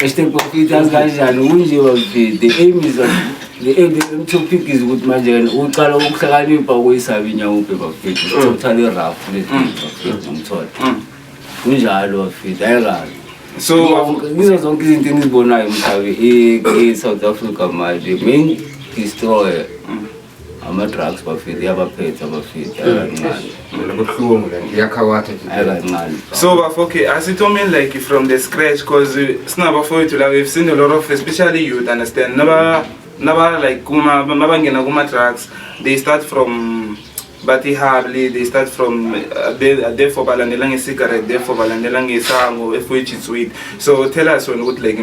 Este profit yazi kanjani kunje bamfethu the aim is on the aim the aim topic is ukuthi manje wena uqala ukuhlakanipha ukuyisaba inyawupe bamfethu Mm. uthothale rough le bamfethu ngithola kunjalo bamfethu ayikabi so Ngizo- ngizo zonke izinto engizibonayo mhlabe e-south africa manje main destroyer ama-drugs bafethu iyabaphetha bafethu mm. ayikancane mina buhlungu le nto iyakhawatha ayikancane so bafo okay asithomeni like from the scratch because uh, sinabafowethu la we've seen a lot of especially youth understand naba naba like kuma mabangena kuma-drugs they start from bathi hardly they start from uh, therefore balandela nge-cigarette therefore balandela ngesango which is sweet so tell us wena ukuthi like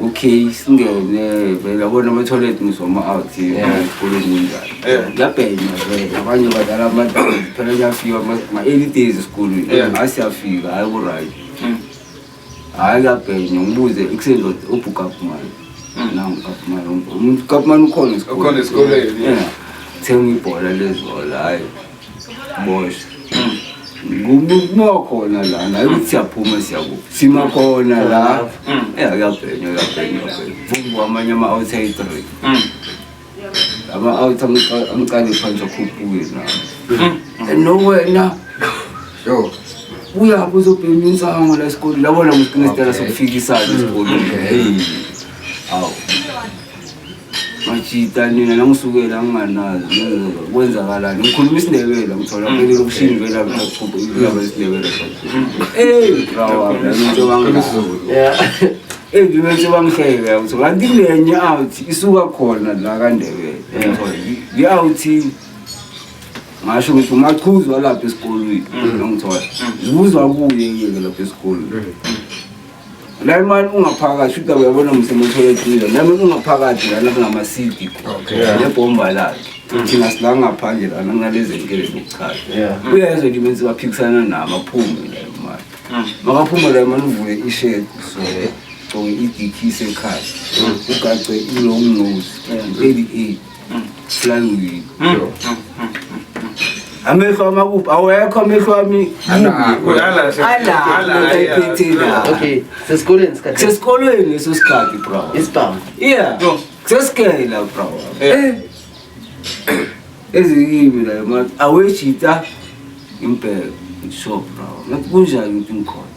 okay singene vele abona amathoyilethi ngizoma out esikoleni kunjani kuyabhenya vele abanye badlala amadala phela kuyafika ma-early days esikolweni hayi siyafika hayi ku-right hmm. hayi kuyabhenya ngibuze ekuseni lot ubhukapumani hmm. nangu kapumani umuntu kapumani ukhona esikoleni thenga ibhola lezola hayi Boys. Kuba khona lana ukuthi siyaphuma siyakuphi sima khona la ya kuyabhenya kuyabhenya vumbu amanye ama-outside three ama-out amqale phansi akhuphuke na no wena yo uyaphi uzobhema insango la esikole labona msiqinisitela sokufikisana esikoleni awu ngajita nina nangisukela nginganazi kwenzakalani ngikhuluma isindebele ngithola mm. phele lokushini vela ngaqhuba ilaba isindebele ey rawa ngisho bangizulu ey ngisho bangihleke ukuthi kanti lenye out isuka khona la kandebele i out ngasho ukuthi umachuzi walapha esikolweni mm. ngithola mm. zibuzwa kuye yeke lapha esikolweni la imani ungaphakathi shuthi uyabona msemotholekile nami ungaphakathi lana kungamasidi nebhomba lakhe mm. thina sila ngaphandle lana kunalezi nkele zokuchaza uyezwa nje menzi baphikisana nami aphume la imani mm. makaphume la imani uvule ishedi sole gcoke idikhise ekhaya mm. ugace ilong nose 38 Slangi. Amehlo amakuphi awekho amehlo ami okay sesikolweni sikhathi sesikolweni leso sikhathi bro isibhamu yeah sesikela bro eh ezikimi la aweshita impela shop bro ngathi kunjani ukuthi ngikhona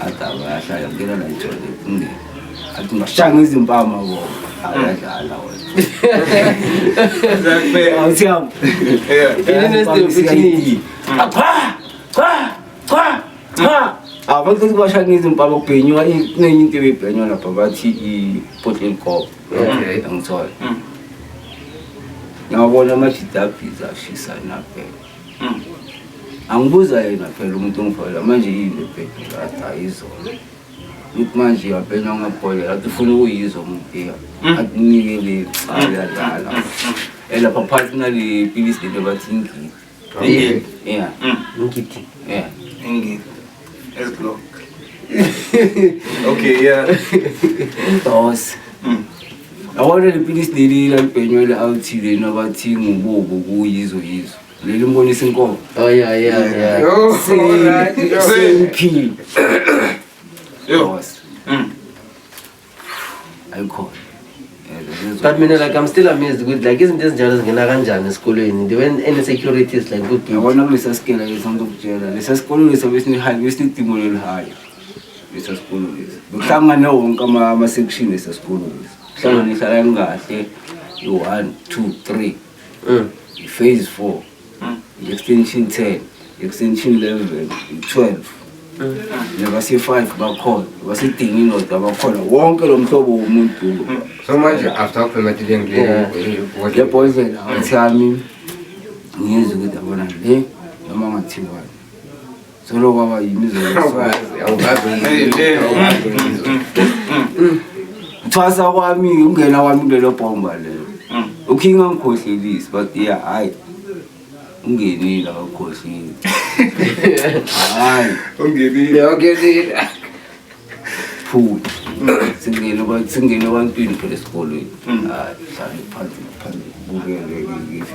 adaba yahlala ngena la ijole kunge athi ngashanga izimpama bo ayadlala wena awuthiyama cha cha cha cha abantu ukuthi bashanga izimpama kubhenywa kunenye into ebebhenywa lapha bathi i-potlin cop angithole ngabona amajidabhiza ashisa nabheka Mm. Angibuza yena phela umuntu ongifakela manje yini lebhedi lathi ayizona. Ngithi manje uyabhena ungabholela athi ufuna ukuyizwa umpiya. Mm. Akunike le cha mm. uyadlala. Mm. mm. Elapha eh, phakathi nale pilisi lento bathi ingidi. Yeah. Yeah. Ingidi. Yeah. Ingidi. Let's go. okay, yeah. Dos. Mm. yabona lipilisi leli lalibhenywe le-althi leni abathi ngubobo kuyizo yizo leli mbonisa inkomo Oh yeah, yeah, yeah. Yo, Same, alright, yo. same key. Yo. Dos. Mm. ayikhona but mina like i'm still amazed ukuthi like izinto ezinjalo zingena kanjani esikolweni the when any securities like kuyabona kulesa sikela lesa ngizokutshela lesa sikolo lesa besinihayi besinidingo lelihayo lesa sikolo lesa bekuhlangane wonke ama-section lesa sikolo lesa kuhlangane ihlala kahle i-one two three mm. i-phase four extension 10 extension 11 12 nabase-five bakhona basidinga indoda bakhona wonke lo mhlobo womuntu so manje after le boyfriend athi yami ngiyezwa ukuthi abona le noma ngathiwani Solo kwaba yini izokwazi awukaze Thwasa kwami ungena kwami kulelo bomba lelo. Mm. Uking angikhohlelisi but yeah hayi. Ungenile akakhohleli. Hayi. Ungenile. Ungenile. Phu. Singene kwa singene kwantwini phela esikolweni. Mm. Hayi, hlale phansi phansi bukele ngithi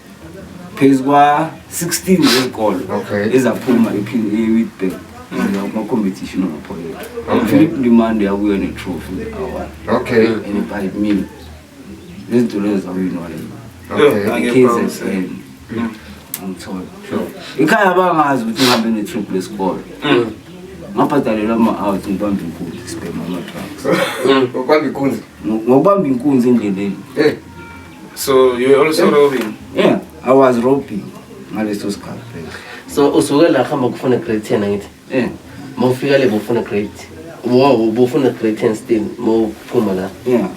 phezu kwa-16 zezikolo Okay. ezaphuma ephi- e-witbank kuma-competition amaphoyela Okay. philip ndimande yakuyo netrophy awa Okay. and by me nezinto lezo zawinwa Okay. kzn angithola ikhaya bangazi ukuthi ngihambe netrip lesikolo ngabhadalelwa ama-out ngibambe inkunzi sibhema ama-drugs Ngokwami kunzi. ngokubamba inkunzi endleleni Eh. So you were also robbing? Yeah, I was robbing ngaleso sikhathi phela. so usuke la hamba kufuna grade 10 angithi Yeah, ma ufika le bofuna grade wow bofuna grade 10 still ma uphuma la yeah.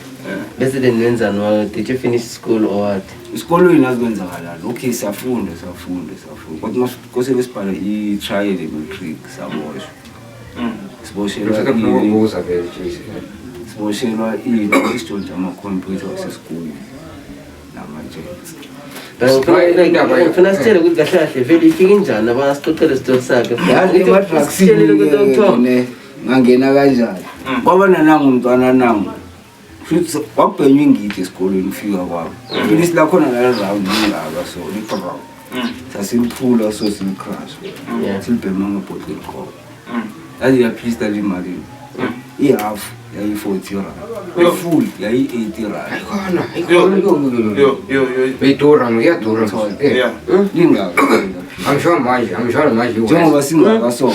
bese then wenzani wa did you finish school or what Isikolweni azikwenzakala lokhu siyafunda siyafunda siyafunda. Kodwa uma kose besibhale i-trial emetric saboshwa. siboshelwa siboshelwa isijonja amakhompyutha wasesikoleni namajets ngifuna sitshele ukuthi kahle kahle vele ifike injani abana sixoxele isitori sakhe ngangena kanjani kwaba nanangu mntwana nangu Futhi kwakubhenywa ingidi esikolweni kufika kwabo. Futhi silakhona la round ingaba so liqhawe. Mm. Sasiliphula so silicrash. Mm. Silibhema ngebhodle liqhawe. Mm. Yazi yaphista limali. I-half yayi-40 rand. Ifull yayi-80 rand. Ayikhona. Idura ngiyadura. Yeah. Lingaka. Angisho manje, angisho manje. Njengoba singaka so.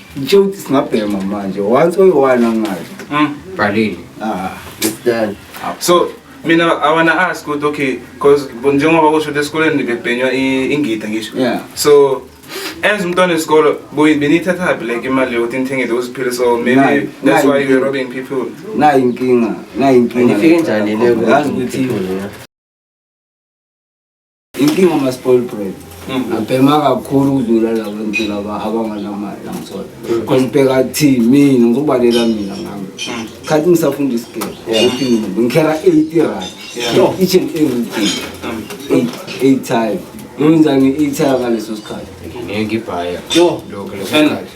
Ngitshe ukuthi singabhema manje once oyi-one angazi Mm, bhalile ah it's done so mina i wanna ask ukuthi okay because njengoba kusho ukuthi esikoleni bebhenywa i- ingida ngisho Yeah. so as umntwana esikolo buyi- beniyithathaphi like imali yokuthi nithenge those pills or maybe Nayi- that's nayi why you're impilo. robbing people nayi inkinga nayi inkinga Nifike njani le yazi ukuthi inkinga ama-spoil bread mm. abhema kakhulu ukudlula labantu laba abanganamali angithola because mm. ngibheka thi mina ngokubalela mina ngami mm. khathi ngisafunda isigebe ngikhera eight rand each and every day eight eight time ngiwenzani eight time ngaleso sikhathi ngeke ibhaya lokho leso sikhathi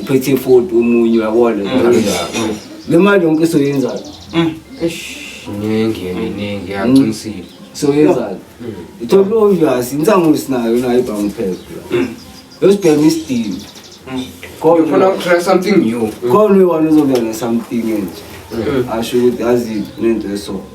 uphethe ifoti omunye uyabona mm. le mali yonke soyenzani mm. iningi iningi yaqinisile mm. soyenzani ithola obvious insango sinayo nayo ibhangu phela yosibhema isidini khona ukutry something new khona uyiwani uzobuya ne-something enje asho ukuthi yazi nento esona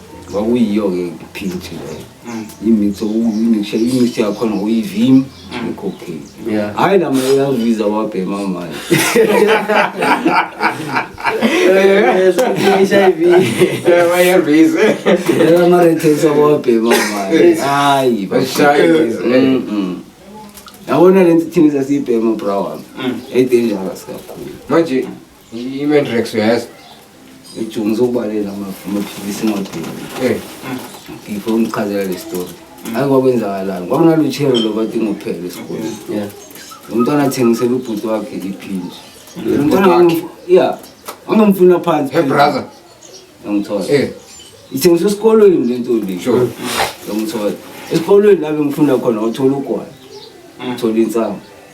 kwakuyiyo-ke i-pint leyo mm. imix imix yakhona uyivim mm. necocaine hhayi lama uyaviza wabhema manje amarethensi wabhema manje hayi yabona le nto thina sasiyibhema bra wami edangerous kakhulu manje Imendrex uyayazi? Ijumu ngizokubalela amaphilisi engatheli. Eh. Ngifo ngichazela le story. Hayi kwakwenzakalani? Kwakunalutshelo lo bathi ngophele esikoleni. Yeah. Umntwana athengisela ubhuti wakhe iphinji. Lo mntwana wangu- yeah. Wangimfuna phansi. Hey brother. Ngangithola. Eh. Ithengiswa esikolweni le ntombi. Sure. Ngangithola. Esikolweni la bengifunda khona wathola ugwayi. Uthola insangu.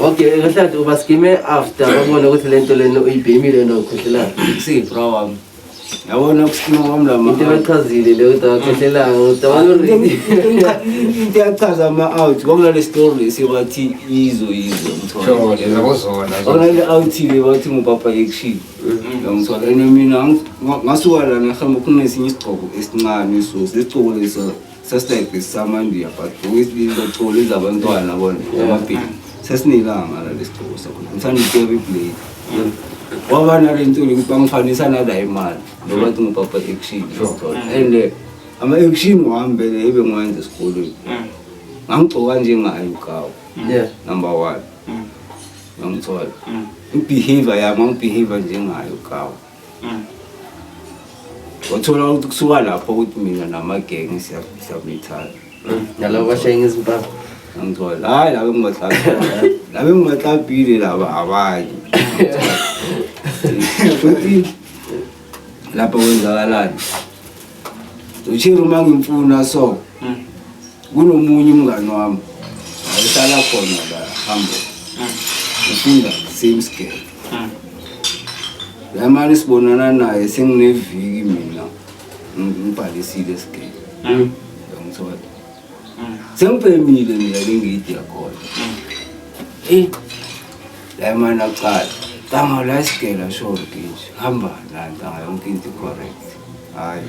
Okay, kahlathi ubaskime after babona ukuthi le nto lena uyibhemile yena ukhohlelana. Siyibra wami. Yabona ukusikima kwami la Into ebachazile le ukuthi awakhohlelanga ukuthi awaloredi. Into yachaza ama-out kwamla le story sibathi yizo yizo mthole. Yena kuzona. Ona le out le bathi ngupapa action. Ngiyamthola and mina ngasuka lana ngihamba kunesinye isigqoko esincane so lesigqoko lesa sesitayibhekisa amandiya but ngokuyisililocoli zabantwana bona yamabhini sesinelanga la lesigcobo sakhona ngisanikebi iblade waba nale ntuli ukuthi bangifanisa nala imali ngoba thi ngubaba action and eh, ama-action wami bele ebe ngiwenza esikolweni mm. ngangigcoka njengayo ugawu number one mm. ngangithola mm. i-behavior yami angibehavior njengayo ugawu wathola ukuthi kusuka lapho ukuthi mina namagenge siyabethana nalabo bashaya ngezimpapha angithola hayi laba engibahlabile laba engibahlabile laba abanye futhi lapho kwenzakalani uchiri uma ngimfuna so Kunomunye umngani wami ayihlala khona la hambo ufunda same scale la mali sibonana naye sengineviki mina ngibhalisile scale ngithola sengibhemile mina lengidi yakhona eyi la mali akuqala ntanga la sigela short nje hamba la ntanga yonke into correct hayi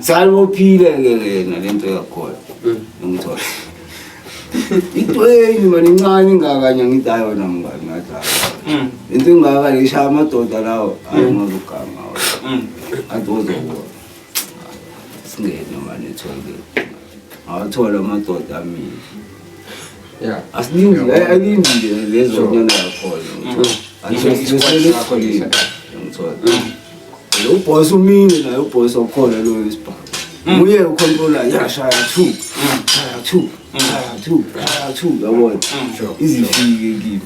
Salibophile ke yena lento yakhona. Mm. Ngithola. Itweni mani incane ingakanye ngidayo wena mngani ngathi. Mm. Into ingaka leshaya amadoda lawo mm. ayingozuganga. Adozo wo. Singene mani ethole. Awathola amadoda amini. Yeah. Asiningi ayilindi lezo nyana yakhona. Angizwe isikhathi sakho lisa. Ngithola. Lo boss umini naye uboss okhona lo isibhamu. Mm. Uye ucontrola yashaya 2. Shaya 2. Shaya 2. Shaya 2 yabona. Mm. Izifike kimi.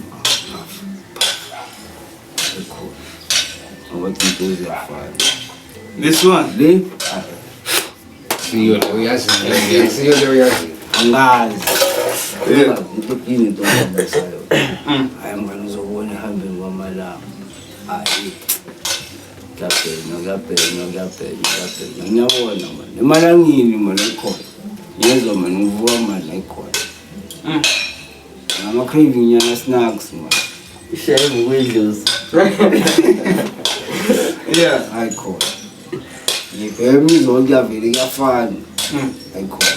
Abathuntuzi yafana. This one. Le. Siyo lo uyazi. Siyo lo uyazi. Angazi. Yeah. Into into. Ayamani uzobona ihambeni kwamalanga. Hayi. Kuyabhekwa, kuyabhekwa, kuyabhekwa, kuyabhekwa. Ngiyabona mani. Emalangeni mani ayikhona. Ngiyezwa mani ngivuka mani ayikhona. Mm. Ngama craving nyana snacks mani. Ishaye ngokuyidlozi. Yeah. Ayikhona. Ngibheka imizwa yonke yavele kuyafana. Mm. Ayikhona.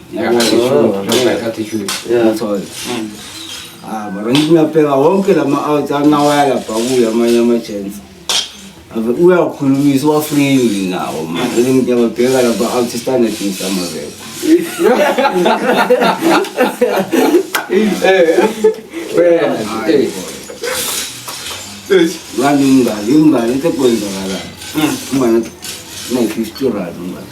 Ah, mara ngithi ngiyabheka wonke la ma-out anawaya lapha kuyo amanye ama-chance ave uyakhulumisa uwafrili nawo manje ngiyababheka lapha out standard ngisamaveko ngani umngani umngani into ekwenzakalayo umngani nayi-fifty rand umngani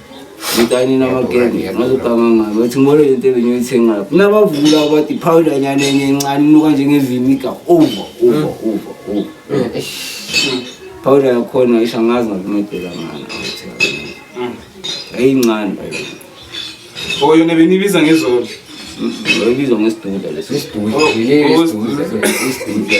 ngitanina amagenge ngazoganganga ngathi ngibone le nto ebengiyoyithenga lapho nabavula abathi phawula nyana enye encane inuka njengevimika over over over over phawula yakhona isho angazi ngakumedela ngani ayincane oyo nebenibiza ngezolo oyibiza ngesiduda leso isiduda isiduda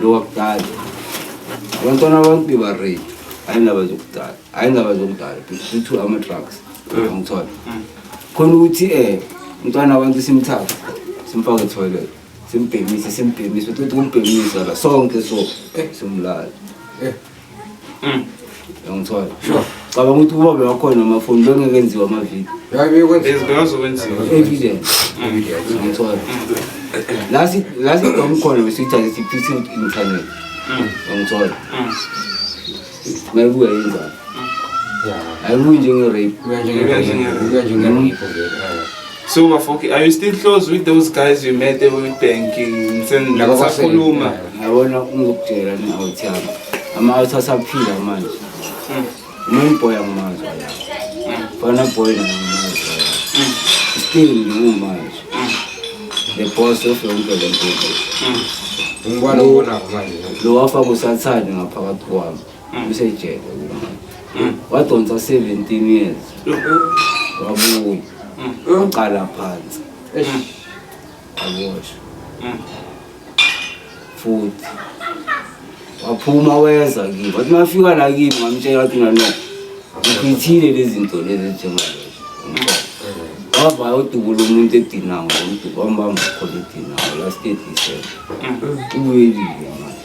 lokudala abantwana abantu bebaredi ayindaba zokudala ayindaba zokudala bethu ama-trucks angithola khona ukuthi um umntwana abantu simthatha simfake etoilet simbhemise simbhemise uthi ukuthi kumbhemisa la sonke so simlala Uyangithola? Sure. Cabanga ukuthi ukuba bewakhona amafoni bengeke enziwa amavidiyo. Yayi bekwenziwa. Bezibengazokwenziwa. Evidence. Uyangithola? La si la si dom khona besithathe siphise internet. Uyangithola? Mayibuya yenzani? Ayibuyi njenge rape. Uya njenge uya njenge vele. So bafoki, are you still close with those guys you met there with banking? Sakhuluma. Yabona ungokutshela ni awuthaba. Ama awuthasaphila manje. Hmm. Umuntu boy angimazi. Fana hmm. boy angimazi. Hmm. Still ngiwu manje. The boss of yonke le nto. Ngibona ubona manje. Lo wafa kusathanda ngaphakathi kwami. usejele wadonsa 17 years wabuya waqala phansi aboshwa futhi waphuma weza kimi wathi mafika la kimi ngamtshela wathi mina no ngiphithile lezi zinto lezi njengalezo wava yodubula umuntu edinawo ngomduba wambamba khona edinawo last day december ubuyelile manje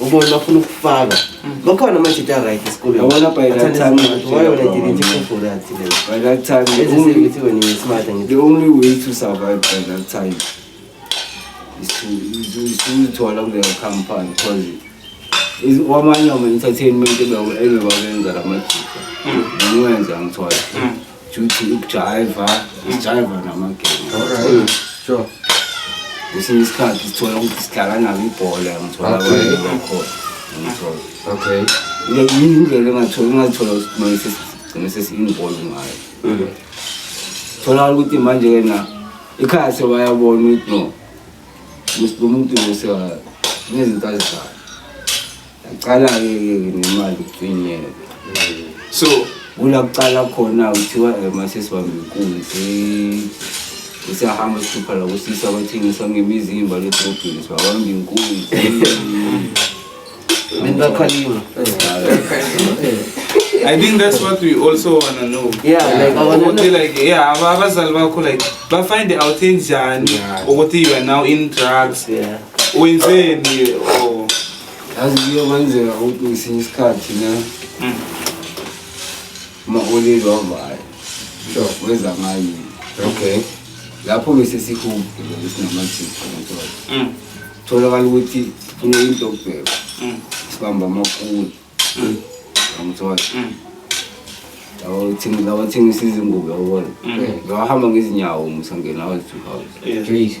ubona bafuna ukufaka bakhona amajita right esikoleni yabona by that time why when i didn't even for that today by that time the only way when you smart and the only way to survive by that time is to is to is to allow their company because is wamanye ama entertainment ebebabenza lamajita ngiwenza ngithwala Juthi ukujayiva, ukujayiva namagame. Alright. Sure. Kwesinye isikhathi sithola ukuthi sidlala nabo ibhola ngithola Okay. abanye bakhona. Ngithola. Okay. Ile yini indlela engathola engathola kumele sigcine sesi-involve ngayo. Thola ukuthi manje yena ikhaya sewayabona ukuthi no. Lo muntu lo sewa nezinto azidlala. Aqala-ke nemali ukufinyela so kula kuqala khona kuthiwa eh, mase sibambe inkunzi usiyahamba sihlupha la kusisa abathengisa ngemizimba ledrobhini sibabamba inkunzi bengakhaliwe I think that's what we also wanna know. Yeah, like I wanna ukuthi know. like yeah aba- abazali bakho like bafind out enjani ukuthi you are now in drugs Yeah. wenzeni or yazi kuyokwenzeka ukuthi ngesinye isikhathi ne hmm. uma-oleli wavayo sure weza ngayo okay lapho bese sihubhe ngoba sinamajiphu ngithola hmm. tholakala ukuthi funa into okubheka hmm. sibamba amakulu angithola lawathengisa izingubo yabona ngawahamba ngezinyawo ngisangena wazi-two house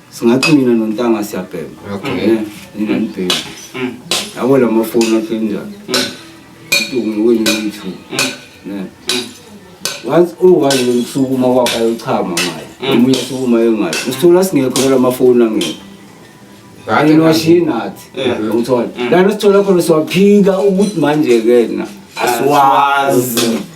singathi mina nontanga siyabhema okay nina nibhema mm. yabo la mafoni athi njani uduku mm. ngiwenye nithu mm. ne once uwaye lomsuku uma kwakho ayochama ngayo omunye sukuma yengayo usithola singekho la mafoni angekho kanye noshina athi ngithola lana sithola khona siwaphika ukuthi manje-ke na asiwazi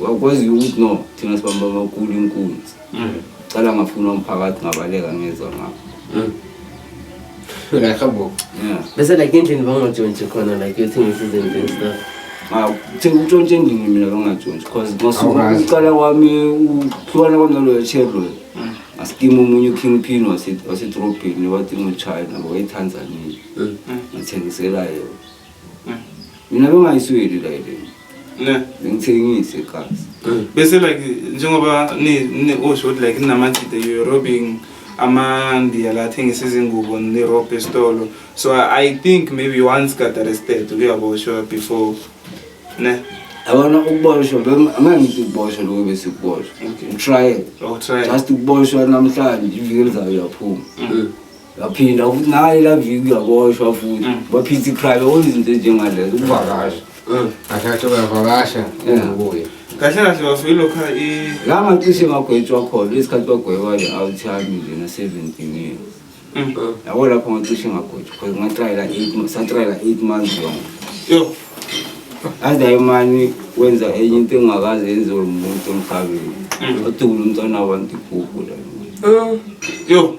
Wakwazi ukuthi no thina sibamba amakhulu inkunzi. Mm. Cala ngafuna umphakathi ngabaleka ngezwa ngakho. Mm. Ngakho. Yeah. Bese like endlini bangajontshi khona like you think this is in stuff. Awu, thina utshontshe endlini mina bangajontshi because ngosuka uqala kwami uhlukana kwami naloyo Chevrolet. Mm. Asikima omunye uKing Pin wasetrobhini wathi nguchina wayethanzania. Ngithengisela yena. mina bengayisweli like ne bengithengise igazi bese like njengoba ni ni osho ukuthi like ninamajide you're robbing amandiya la athengisa izingubo nirobhe esitolo so i think maybe you once got arrested uyaboshwa before ne yabona ukuboshwa angeke ngithi ukuboshwa lokho bese ukuboshwa utrial just ukuboshwa namhlanje iviki elizayo uyaphuma mm. yaphinda ukuthi naye la viki uyaboshwa futhi mm. baphitha iprivate onke izinto ezinjengalezo ukuvakasha mm. kahle kahle uyavakasha engakuye kahle kahle bafike lokha la ngacishe ngagwetshwa khona isikhathi bagweba le out yami nje na 17 years mm. yabo lapho ngacishe ngagwetshwa because ngatrayela 8 satrayela 8 months long yo aze imani wenza enye into engakaze yenziwe umuntu emhlabeni odubula umntwana wabantu ibhubhu la yo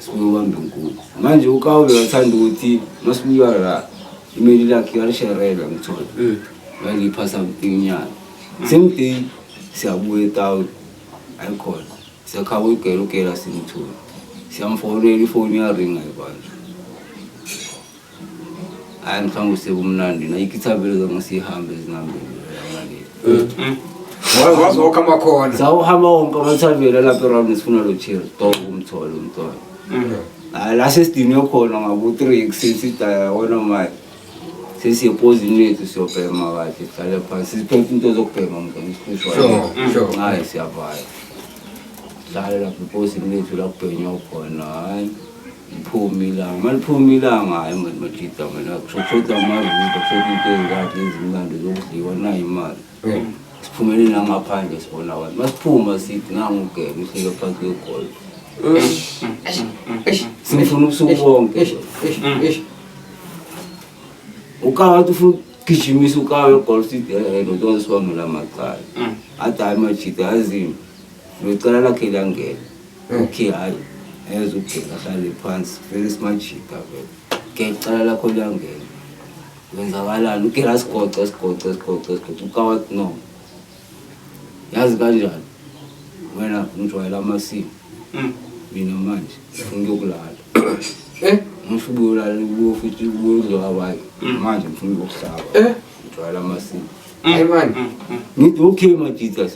Sibuye ubambe nkulu. Manje uKawube wathanda ukuthi masibuya la imeli lakhe yalisherelwa ngithola. Mm. Ngaliphasa inyanga. Same day siyabuya eTown ayikhona. Siyakhaba uyigela ugela simthola. Siyamfonela ifoni yaringa ibandla. Hayi mhlawumbe usekumnandi na ikithabelo zona sihambe zingambili. Wazi wazi wonke amakhona. Sawuhamba wonke amathavela lapha eRound sifuna lo chair dog umthole umntwana. Hayi la sesidinwe khona ngabo 3 kusisi daya wona manje. Sisi epozini lethu siyobhema kahle sihlale phansi siphethe into zokubhema mntwana isikhusho. Sure, sure. Hayi siyavaya. Sihlale lapha epozini lethu la kubhenywa khona hayi. Liphuma ilanga, uma liphuma ilanga hhayi mani majida mina kushoda amavido kushoda into ezingakhe ezimnandi zokudliwa nayo imali Eh. siphumele nangaphandle sibona abantu masiphuma sithi nangugebe uhlike phansi kwegolf simfuna ubusuku bonke Eish, eish, eish. ukawa athi ufuna ukugijimisa ukawa egolf sithi ehe ndoda wazisiwamela amacala athi hhayi majida yazini locala lakhe liyangena okay hayi ngeze ubheka ahlale phansi vele simajika vele ke icala lakho liyangena wenzakalani uke la sigoce sigoce sigoce sigoce ukawathi no yazi kanjani wena ngijwayela amasimo hmm. mina manje ngifuna ukuyokulala eh ngisho ubuyolala kuwo futhi ubuyodliwa abanye hmm. manje ngifuna ukuyokuhlaba eh ngijwayela amasimo hmm. hayi mani ngithi okay majitas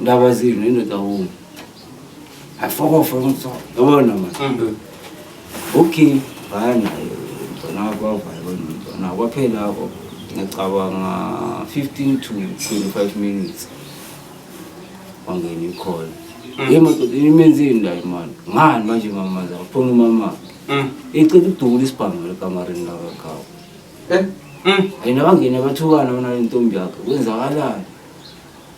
Ndaba zini indoda wonke. Afokofa umthola. Yabona manje. Mm. Okay, baya nayo. Mntwana wakho wavaya bona mntwana wakho. Kwaphela lapho ngicabanga 15 to 25 minutes. Wangena ikhona. Mm. Yema doda imenzini la imali. Ngani manje mama zakho? Phone umama. Mm. Icela ukudubula isibhamu lekamareni la kakhawo. Eh? Mm. Ayina bangena bathukana bona lentombi yakhe. Kwenzakalani?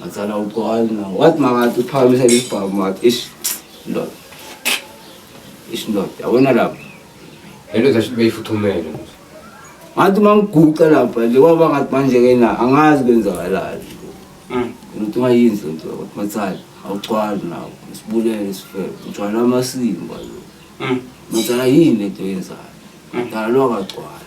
Ngathana uqwala na. What makathi uphakamisa isibhamu makathi ish ndoda. Ish ndoda. Yabona lapho. Hello zasho beyifuthumele. Ngathi mangiguqa lapha nje kwaba ngathi manje ke na angazi kwenzakalani. Mm. Umuntu ungayinzi lento ukuthi mathali awuqwali nawo. Sibulele sifebe. Ujwala amasimba lo. Mm. Mathali yini lento yenzayo. Ngalo akagcwali.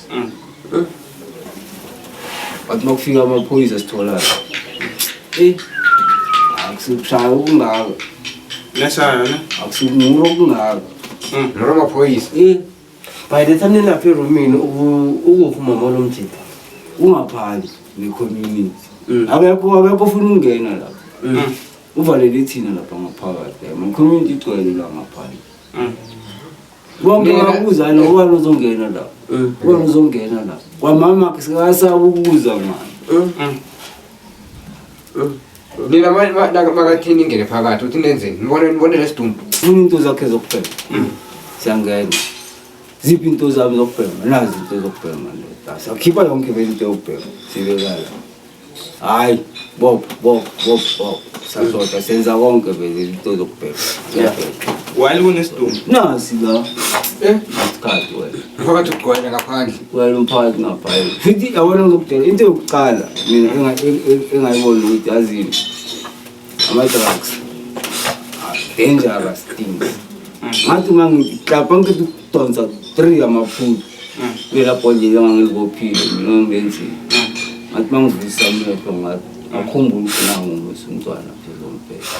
But makufika amaphoyisa sitholana. Eh. Akusikushaya okungako. Lesana ne? Akusikumura okungako. Mm. Lero maphoyisa. Eh. By the time nilapha erumini ukuphuma molo mjipha. Ungaphali ne community. Mm. Akekho akekho ufuna ukungena lapha. Mm. Uvalele thina lapha ngaphakathi. Ama community igcwele la ngaphakathi. Mm. bonke babuza lo ubani uzongena la mm. ubani uzongena la kwamama sikasaba ukubuza mama mm. mm. mina makathini ingene phakathi uthi nenzeni nibone nibone lesidumbu funa into zakhe zokubhema siyangena ziphi into zami zokubhema nazi into zokubhema ndoda sakhipha yonke vele into yokubhema sibekala hayi bob bob bob bob sazoda senza konke vele into zokubheka Yeah. Wali kunesidumbu. nasi la Eh, isikhathi wena phakathi ugcwele ngaphandle. wena umphakathi ngabhayile futhi yabona ngizokutshela into yokuqala mina enga- eng- eng- engayibona ukuthi yazini Ama-drugs. Ah, dangerous things. Ngathi uma ngiklapha ngithi ukudonsa three amaphulu. Belapho nje ngangilibophile mina ngenzile. Ngathi uma ngivulisa amehlo ngathi akhumbula ukuthi nangu umntwana phela umbheka.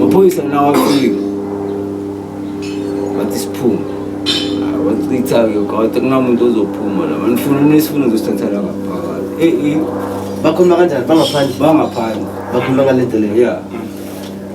maphoyisa nawo afike wathi siphume wachitha-ke kawathe kunamuntu ozophuma la manifuna unesifuna uzosithathela ngaphakathi bakhuluma kanjani bangaphandle bangaphandle bakhuluma ngale ndlela ya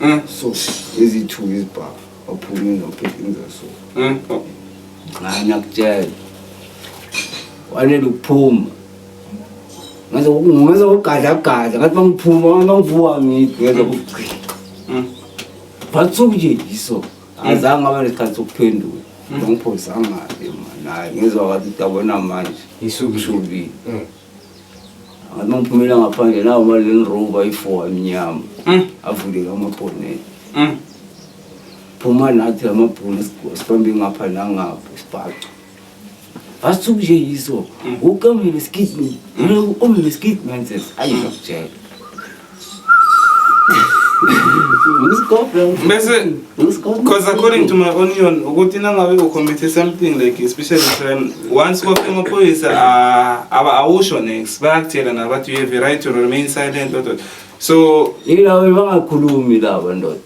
Mm. so eziyi-two izibhafu waphume nophekinza so Mm. Oh. nxa ngiyakutshela wanele ukuphuma ngenza ngenza ukugadlagadla ngathi mangiphuma mangivuka ngithi ngenza ukugcina Mm. batsuku nje yiso azange aba nesikhathi sokuphendula ngangiphosangabe mani hayi ngizwa wathi dabona manje Isukile. ishubile Mm. Ngathi uma ngiphumela ngaphandle nawo mali leli rover i-four emnyama Mm. avuleke amabhonela Mm. phuma nathi amabhunu sibambe ngapha nangapha isibhaco basithuku nje yiso ukamile skidman umile skidman ses ayi ngakutshela bese because according to my onion ukuthi nangabe ucommithe something like especially crime once kwafika amaphoyisa ah, awusho next bayakutshela nabathi you have a right to remain silent so yilawo bangakhulumi laba ndoda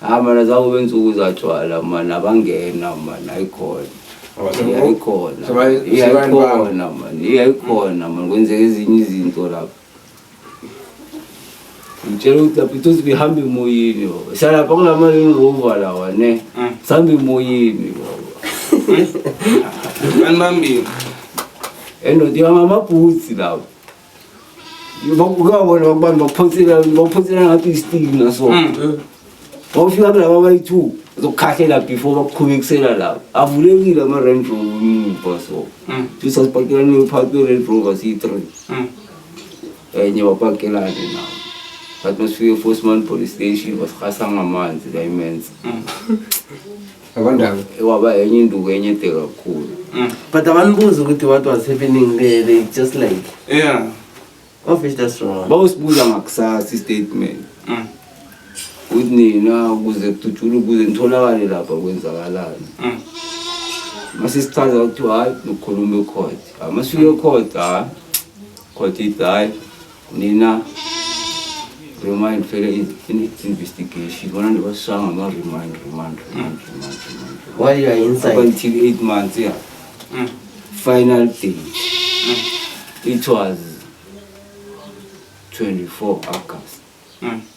hayi mana zakube nsuku zatshwala mana abangena mana ayikhona iyayikhona iyayikhona mani iyayikhona mani kwenzeka ezinye izinto lapho ngitshela ukuthi lapho ithosi bihambe emoyini baba salapha kulamalini ngova lawa ne mm. sihamba emoyini baba anibambile endoda ihamba amabhutsi lapho bakukabona abantu baphonsela baphonsela ngathi isitiki naso Mm. wawufika kulaba bayi-two zokukhahlela before bakuqhubekisela laba avulekile ama-range rover emuva so Mm. sisasipakelane uphakathi kwe-range rover siyi-three Mm. enye wapakelane nawo but masifike eforceman police station basirhasa ngamanzi kayimenza Mm. Abandaba. Waba enye induku enye de kakhulu. Mm. But abanibuzi ukuthi what was happening there they just like. Yeah. Of is that wrong? Bawusibuza ngakusasa istatement. Mm. Ukuthi nina ukuze kudutshule ukuze nitholakale lapha kwenzakalani. Mm. Mase sichaza ukuthi hayi nokukhuluma ecourt. Mase uye ecourt hayi. Court ithi hayi Nina remind fela investigation bona ndibasanga ma remind remind remind remind remind while you are inside up until 8 months yeah mm. final day mm. it was 24 august mm.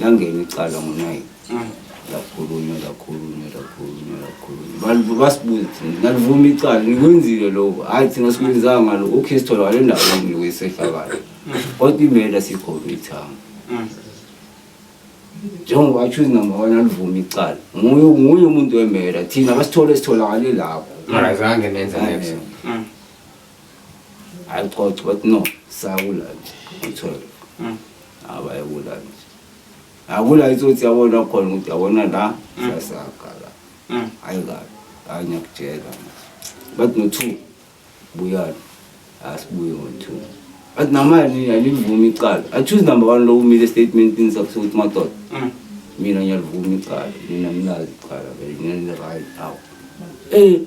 Langena icala ngo-nine lakhulunywa lakhulunywa lakhulunywa lakhulunywa bantu basibuza thina nalivuma icala nikwenzile lokho hhayi thina sikwenzanga ngalo okay sitholakale endaweni lokhu isehlakalo kodwa imela sikhona ithanga njengoba achuze number one alivuma icala nguye nguye umuntu wemela thina basithole sitholakale lapho Mara zange nenze next. Hayi ucoca bathi no sakula nje u-twelve Mm. abayekula nje akula ithi ukuthi yabona khona ukuthi yabona la sasaga la Mm. hayi kabi hayi ngiyakutshela bathi no-two buyani asibuye ngo-two bathi namali alivumi icala achoose number one lo umile estatementini sakho sokuthi madoda Mm. mina ngiyalivuma icala nina ninazi icala vele nina nirayi awu um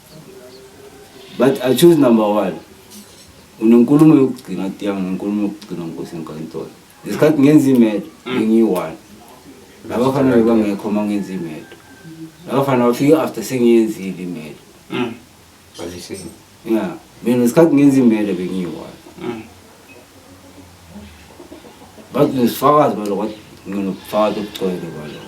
but i choose number one unenkulumo yokugcina tiya ngenkulumo yokugcina nkosi enkantolo ngesikhathi ngenza imedo mm. bengiyi-one labafana bebangekho uma ngenza imedo labafana bafike after sengiyenzile imedo mm. ya mina ngesikhathi ngenza imedo bengiyi-one mm. but nesifakazi baloko nginobufakazi obugcwele baloko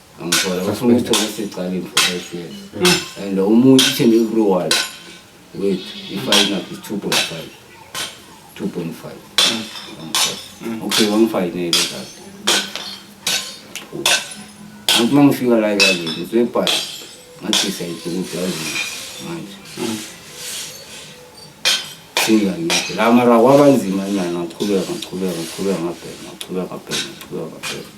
angikholwa bafuna ukuthi okusecala in for five years and umuntu ithembe everyone wethu ifine up is two point five two point five okay wangifayinele kade angithi uma ngifika la ekazini ngizoyibhala ngathi siyayidinga ukuthi yazini manje singangiphi la mara kwabanzima nyana ngaqhubeka ngaqhubeka ngaqhubeka ngabheka ngaqhubeka ngabheka ngaqhubeka ngabheka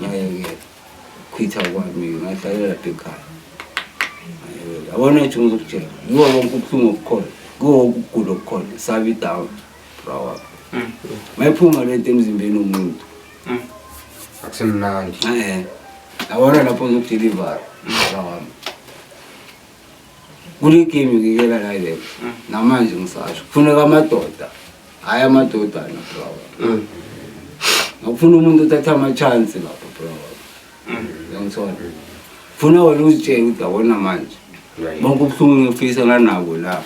ngayekela khwitha kwami ngahlalela ekhaya ngayekela abona ukuthi ngizokutshela kuwo wonke ubuhlungu obukhona kuwo wonke ukugula okukhona sabe idawu bra wakho mm. mayiphuma le nto emzimbeni womuntu mm. akusemnandi abona lapho ngizokudilivara bra wami kule game ngikela la le mm. namanje ngisasho kufuneka amadoda hayi amadoda na bro mm. ngifuna umuntu uthatha ama chance lapho bro mm. ngiyangithola funa wena uzitshele ukuthi awona manje bonke ubuhlungu ngifisa nganako la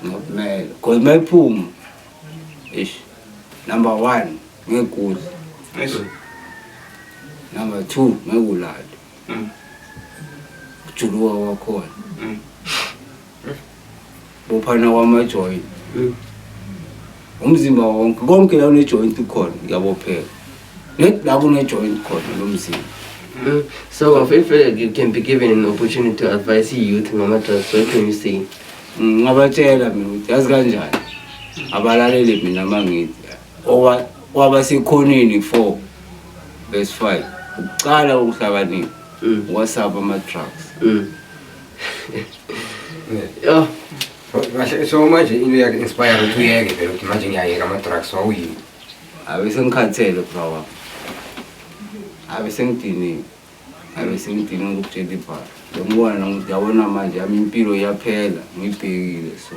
ngokumele cause mayiphuma ish number 1 ngekudla number 2 ngekulala mm. kujuluka kwakhona mm. bophana kwamajoyini mm. umzimba wonke konke la unejoyinti ukhona uyabopheka la kunejoyinti khona lo mzimba mm. so if uh, you can be given an opportunity to advise youth ngama-drugs what can you say ngabatshela mina ukuthi yazi kanjani abalalele mina mangithi Owa- Wabasekhoneni 4 verse 5 ukuqala kokuhlakanipha Mm. wasaba ama-drugs Mm. Yho, kahle so manje into yakhe inspire ukuthi uyeke vele ukuthi manje ngiyayeka ama-drugs wawuyini abe sengikhathele bra wami abe sengidiniwe abe sengidiniwe ngokutshela ibhala ngiyambona nokuthi yabona manje yami impilo iyaphela ngiyibhekile so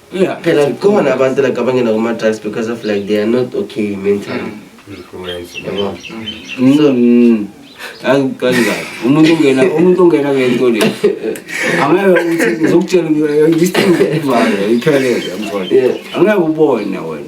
Yeah, phela khona abantu like abangena kuma drugs because of like they are not okay mentally. Influence. Yabo. So Mm. Angikazi kahle. Umuntu ungena umuntu ungena ngento le. Angeke uthi ngizokutshela ukuthi this thing is valid. Ikhelele mfowethu. Yeah. Angeke ubone wena.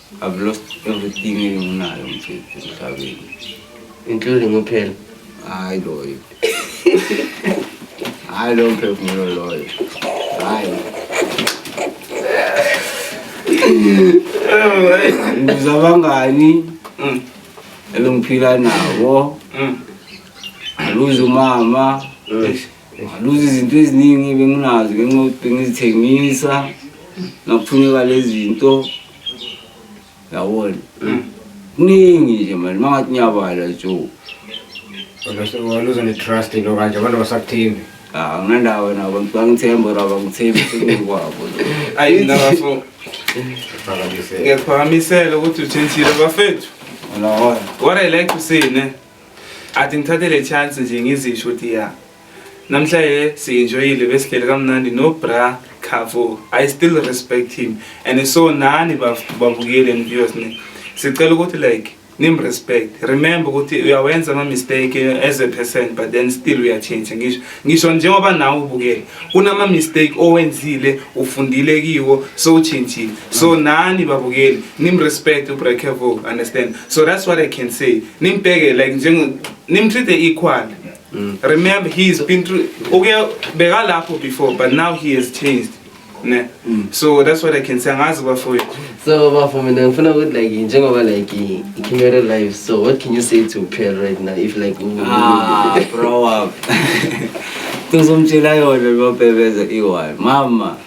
I've lost everything enginayo mfethu emhlabeni. Including uphela. Hayi loyo. Hayi lo mphefumulo loyo. Hayi. Ngiza abangani mm. ebengiphila nabo. Mm. Aluze umama. Mm. Ngaluza izinto eziningi benginazo ngenxa yokuthi bengizithengisa ngakufuneka lezi zinto yabona mm. kuningi nje mani uma ngathi ngiyabala jo waluza ne-trust into kanje abantu basakuthembi ah, anginandawo wena abantu bangithemba or abangithembi sekukwabo ayinafo ngiyakuphakamisela ukuthi uthintile bafethu what i like to say ne athi ngithathe le chance nje ngizisho ukuthi ya namhlanje siyenjoyile besihleli kamnandi no bra khavo i still respect him and so nani babukeli and viewers ne sicela ukuthi like nimrespect remember ukuthi uyawenza ama-mistake as a person but then still uyatshintsha ngisho ngisho njengoba nawe ubukele kunama-mistake owenzile ufundile kiwo so utshintshile so nani babukeli nimrespect ubrekevo understand so that's what i can say nimbheke like njenge nimtreat-e equal mm. remember he has been through okay bekalapho before but now he has changed ne mm. so that's what i can say angazi bafowethu so bafo mina ngifuna ukuthi like njengoba like i-camera live so what can you say to pearl right now if like ah, bro up ngizomtshela yona lobebeze iwal mama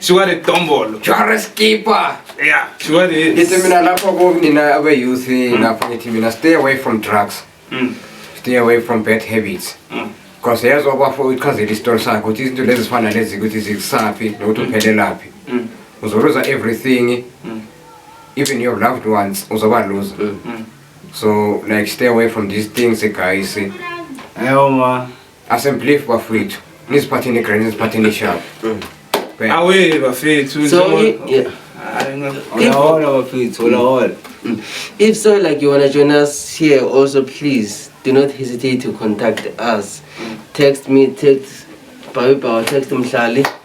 Suka le dombolo. Jare skipper. Yeah, suka le. Ngithi mina lapho ku mina abe youth hmm. lapho ngithi mina stay away from drugs. Mm. Stay away from bad habits. Mm. Because yezwa kwafo uchazela isitori sakhe ukuthi izinto lezi zifana lezi ukuthi zikusaphi nokuthi hmm. uphelelaphi. Mm. Uzoluza everything. Mm. Even your loved ones uzoba loser. Mm. So like stay away from these things guys. Ayo ma. Asemblief bafethu. Nisiphatheni grand nisiphatheni sharp. Bheka. Awe bafethu So, njengoba- i- yeah. Hayi, nga- Hola, hola, bafethu. Hola, hola. If so, like you wanna join us here, also please do not hesitate to contact us. Text me, text Babi Power, text Mhlali.